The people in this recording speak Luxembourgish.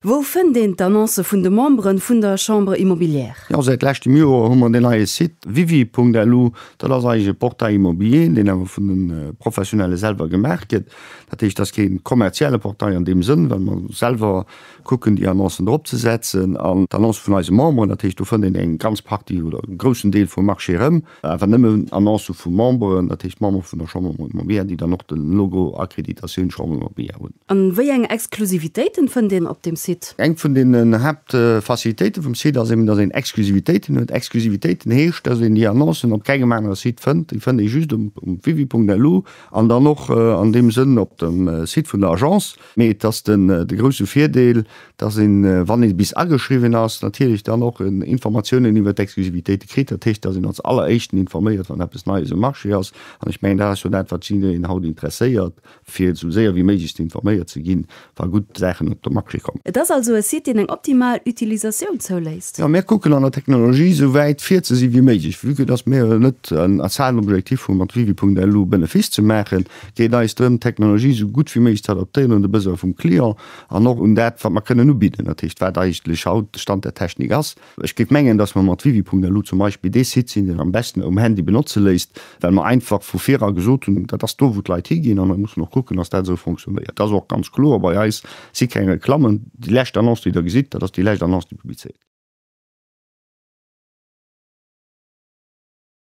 Wou fënnt een d'Annoncë vun de Membere vun der Chambre immobilière? Jo, säit leschtem Joer hu mer deen neie Site wivi.lu. Dat ass eigentlech e Portail immobilier, deen awer vun de Professionelle selwer gemaach gëtt. Dat heescht, dat ass kee kommerzielle Portail an deem Sënn, well mer selwer kucken, déi Annoncen drop ze setzen. An d'Annoncë vun eise Memberen, dat heescht, do fënnt een eng ganz Partie oder e groussen Deel vum Marché erëm. Awer nëmmen Annoncë vu Memberen, dat heescht Member vun der Chambre de Commerce Mobea, déi dann och de Logo Accréditation Chambre de Mobea hunn. An wéi eng Exklusivitéiten fënnt een op dem Site? Eng vun den Haaptfacilitéiten vum Site ass eben, dass een Exklusivitéiten huet. Exklusivitéiten heescht, dass een déi Annoncen op kengem anere Site fënnt. Déi fënnt ee just um www.lu an dann och an deem Sënn op dem Site vun der Agence. Mee et ass den de grousse Virdeel, dass een, wann ee bis ageschriwwen ass, natierlech dann och Informatiounen iwwert d'Exklusivitéite kritt. Dat heescht, dass een als Alleréischten informéiert, wann eppes Neies um Marché ass. An ech mengen, dat ass jo dat, wat jiddwereen haut interesséiert, fir esou séier wéi méiglech ze informéiert ze ginn, wa gutt Saachen op de Marché kommen. Et ass also e Site, deen eng optimal Utilisatioun zouléisst. Jo, mir kucken an der Technologie esou wäit vir ze si wéi méiglech, vu que dass mir net als Haaptobjektiv hunn, mat Wiwi.lu Benefice ze maachen, geet eis drëm, d'Technologie esou gutt wéi méiglech ze adaptéieren un de Besoin vum Client an och un dat, wat mer kënnen ubidden, dat heescht, wat eigentlech haut de Stand der Technik ass. Ech géif mengen, dass mer mat Wiwi.lu zum Beispill dee Site sinn, deen am beschten um Handy benotze léisst, well mer einfach vu vir a gesot hunn, dat ass do, wou d'Leit higinn an et muss een och kucken, dass dat esou fonctionnéiert. Et ass och ganz kloer, bei eis si keng Reklammen. Déi lescht Annonce, déi Der gesitt, dat ass déi lescht Annonce, déi publizéiert gëtt.